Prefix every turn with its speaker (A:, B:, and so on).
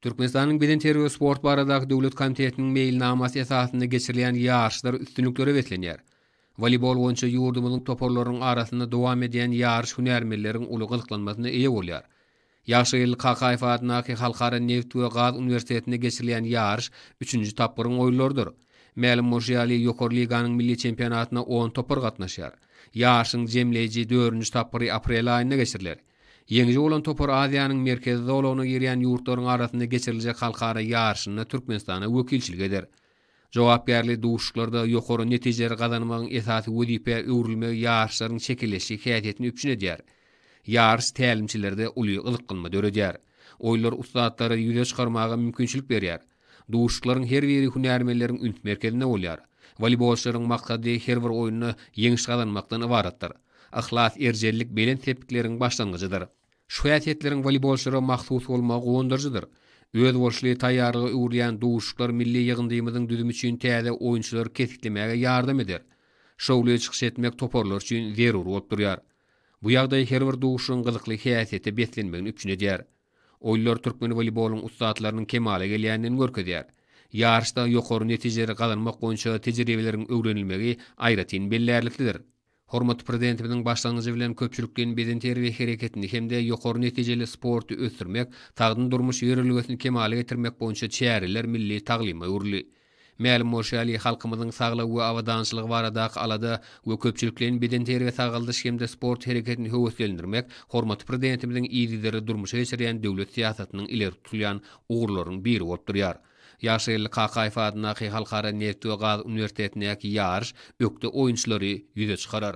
A: Türkmenistanyň Bedenterbiýe we sport baradaky döwlet komitetiniň meýilnamasy esasynda geçirilýän ýaryşlar üstünliklere beslenýär. Woleýbol boýunça ýurdumyzyň toparlarynyň arasynda dowam edýän ýaryş hünärmenleriň uly gyzyklanmasyna eýe bolýar. Ýagşygeldi Kakaýew adyndaky Halkara nebit we gaz uniwersitetinde geçirilýän ýaryş üçünji tapgyryň oýunlarydyr. Mälim bolşy ýaly, Ýokary liganyň milli çempionatyna on topar gatnaşýar. Ýaryşyň jemleýji dördünji tapgyry aprel aýynda geçiriler. Ýeňiji bolan topar Aziýanyň merkezi zolagyna girýän ýurtlaryň arasynda geçiriljek halkara ýaryşynda Türkmenistana wekilçilik eder. Jogapkärli duşuşyklarda ýokary netijeleri gazanmagyň esasy wezipä öwrülmegi ýaryşlaryň şekilleşik häsiýetini üpjün edýär. Ýaryş tälimçilerde uly gyzyklanma döredýär. Oýunlar ussatlary ýüze çykarmaga mümkinçilik berýär. Duşuşyklaryň her biri hünärmenleriň üns merkezinde bolýar. Woleýbolçylaryň maksady her bir oýunda ýeňiş gazanmakdan ybaratdyr. Yhlas, erjellik belent sepgitleriň başlangyjydyr. Şu häsiýetleriň woleýbolçylara mahsus bolmagy guwandyryjydyr. Özboluşly taýýarlyga öwrülýän duşuşyklar milli ýygyndymyzyň düzümi üçin täze oýunçylary kesgitlemäge ýardam eder. Şowly çykyş etmek toparlar üçin zerur bolup durýar. Bu ýagdaý her bir duşuşygyň gyzykly häsiýete beslenmegini üpjün edýär. Oýunlar türkmen woleýbolyň ussatlarynyň kemala gelýändigini görkezýär. Ýaryşda ýokary netijeleri gazanmak boýunça tejribeleriň öwrenilmegi aýratyn bellärliklidir. Hormatly Prezidentimiziň başlangyjy bilen köpçülikleýin beden terbiýe hereketini hem-de ýokary netijeli sporty ösdürmek, sagdyn durmuş ýörelgesini kemala getirmek boýunça çäreler milli taglyma öwrüldi. Mälim bolşy ýaly, halkymyzyň saglygy we abadançylygy baradaky alada we köpçülikleýin bedenterbiýe-sagaldyş hem-de sport hereketini höweslendirmek hormatly Prezidentimiziň yzygiderli durmuşa geçirýän döwlet syýasatynyň ileri tutulýan ugurlarynyň biri bolup durýar. Ýagşygeldi Kakaýew adyndaky Halkara neft we gaz uniwersitetindäki ýaryş ökde oýunçylary ýüze çykarar.